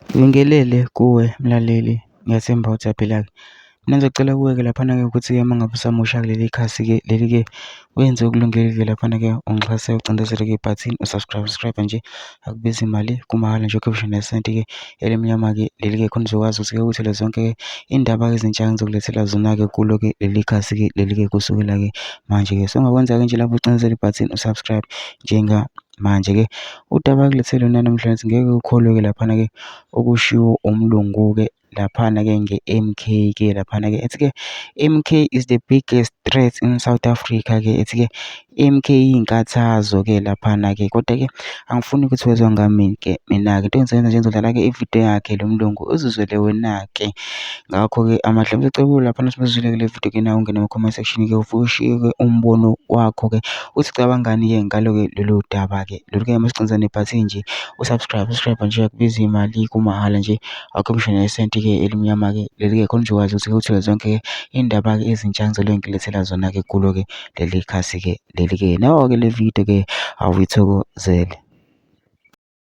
Ngibingelele kuwe mlaleli ngiyethemba ukuthi uyaphila-ke. Mina ngizocela kuwe-ke laphana-ke ukuthi-ke uma ngabe usamusha kuleli khasi-ke leli-ke wenze okulungile-ke laphana-ke ungixhase ucindezele-ke ibhathini u-subscribe, subscribe nje akubizi mali kumahhala nje ukhiphe ngisho nesenti-ke elimnyama-ke leli-ke khona uzokwazi ukuthi-ke uthole zonke iy'ndaba ezintsha engizokulethela zona-ke kulo-ke leli khasi-ke leli-ke kusukela-ke manje-ke. So ongakwenza-ke nje lapho ucindezela ibhathini u-subscribe njenga. Manje ke udaba ke lwethu lona namhla ngithi ngeke ukholwe ke laphana ke okushiwo umlungu ke laphana ke nge-M_K ke laphana ke. Ethi ke M_K is the biggest threat in South Africa ke. Ethi ke M_K iyinkathazo ke laphana ke. Kodwa ke angifuni ukuthi wezwa ngami ke mina-ke. Into engizoyenza nje ngizodlala ke i-video yakhe lo mlungu uzizwele wena-ke. Ngakho-ke amahle laphana uma uzizwile ke le video ke nawe ungene kuma-comment section ke ufike ushiye ke umbono wakho ke. Usucabangani ke ngalo loludaba ke lo ke masiqinise nebhathini nje u subscribe subscribe nje akubizi mali kumahhala nje akukho ngisho nesenti ke elimnyama ke leli ke khona nje ukwazi ukuthi uthole zonke iy'ndaba ke ezintsha engizobe ngilethela zona ke kulo ke leli khasi ke leli ke nawe ke le video ke awuyithokozele.